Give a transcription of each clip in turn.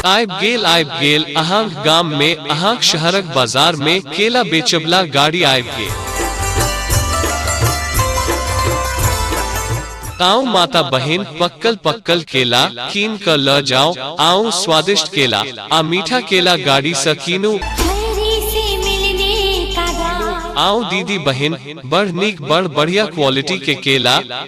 आयब गेल आयब गेल अहाँक गाम में अहाँक शहरक बाजार में केला बेचबला गाड़ी आयब गेल आओ माता बहन पक्कल पक्कल केला कीन क ल जाओ आओ स्वादिष्ट केला आ मीठा केला गाड़ी स कीनू मेरे से मिलने का दावा आओ दीदी बहन बड़ नीक बड़ बढ़िया क्वालिटी के केला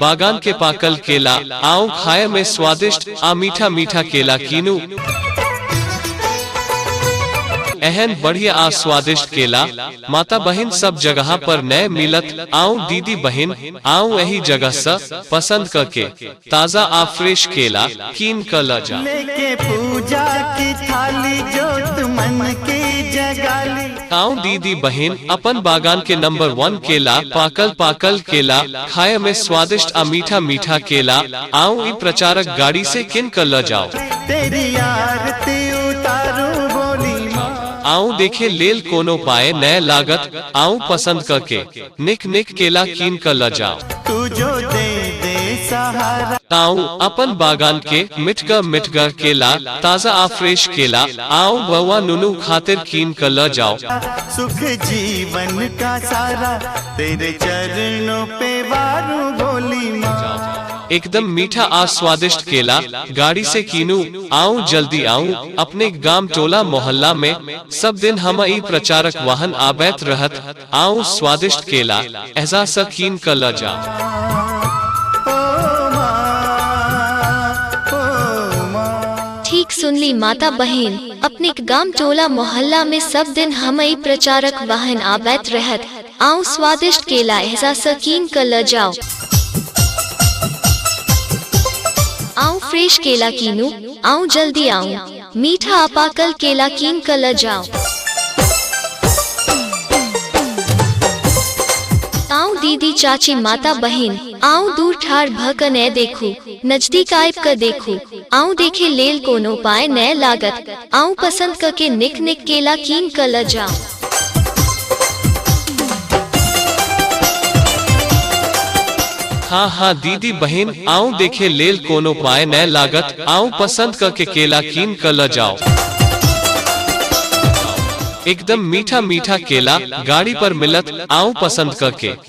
बागान के पाकल केला आओ खाए में स्वादिष्ट आ मीठा मीठा केला कीनू एहन बढ़िया आ स्वादिष्ट केला माता बहन सब जगह पर नए मिलत आओ दीदी बहन आओ यही जगह से पसंद करके ताजा आ फ्रेश केला कीन क ल जा। लेके पूजा की थाली जोत मन के जगाली आऊं दीदी बहन अपन बागान के नंबर वन केला पाकल पाकल केला खाए में स्वादिष्ट आ मीठा मीठा केला आऊं ई प्रचारक गाड़ी से किन कर ल जाओ तेरी आरती उतारू बोली माँ आऊं देखे लेल कोनो पाए नए लागत आऊं पसंद करके निक निक केला कीन क ल जाओ तू जो दे दे सहारा ताऊ अपन बागान के मिठगर मिठगर केला ताजा आ फ्रेश केला आओ बउआ नुनू खातिर कीन क ल जाओ सुख जीवन का सारा तेरे चरणों पे वारू भोली माँ एकदम मीठा आ स्वादिष्ट केला गाड़ी से कीनू आओ जल्दी आओ अपने गांव टोला मोहल्ला में सब दिन हम ई प्रचारक वाहन आबैत रहत आउ स्वादिष्ट केला एहजा स कीन क ल जा ठीक सुनली माता बहन अपने गाम टोला मोहल्ला में सब दिन हम ई प्रचारक वाहन आबैत रहत आउ स्वादिष्ट केला एहजा स कीन क ल जाओ आउ फ्रेश केला कीनू आउ जल्दी आऊ मीठा आ पाकल केला कीन कऽ लऽ जाउ आउ दीदी चाची माता बहिन आउ दूर ठाढ़ भऽ कऽ नै देखू नजदीक आबि कऽ देखू आउ देखे लेल कोनो पाय नै लागत आउ पसंद कऽ के निक निक केला कीन कऽ लऽ जाउ हाँ हाँ दीदी बहन आऊं देखे लेल कोनो पाए न लागत आऊं पसंद क के केला कीन क ल जाओ एकदम मीठा मीठा केला गाड़ी पर मिलत आऊं पसंद क के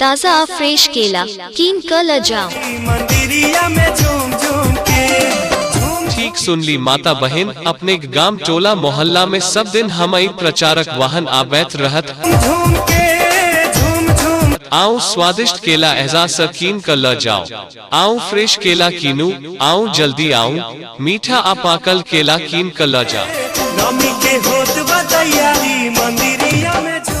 ताजा आ फ्रेश केला कीन क ल जाओ मंदिरिया में झूम झूम के झूम ठीक सुनली माता बहन अपने गाम टोला मोहल्ला में सब दिन हम आई प्रचारक वाहन आबैत रहत झूम के झूम झूम आओ स्वादिष्ट केला एहजा स कीन क ल जाओ आओ फ्रेश केला कीनू आओ जल्दी आओ मीठा आ पाकल केला कीन क ल जाओ नमी के होत बा तैयारी मंदिरिया में झूम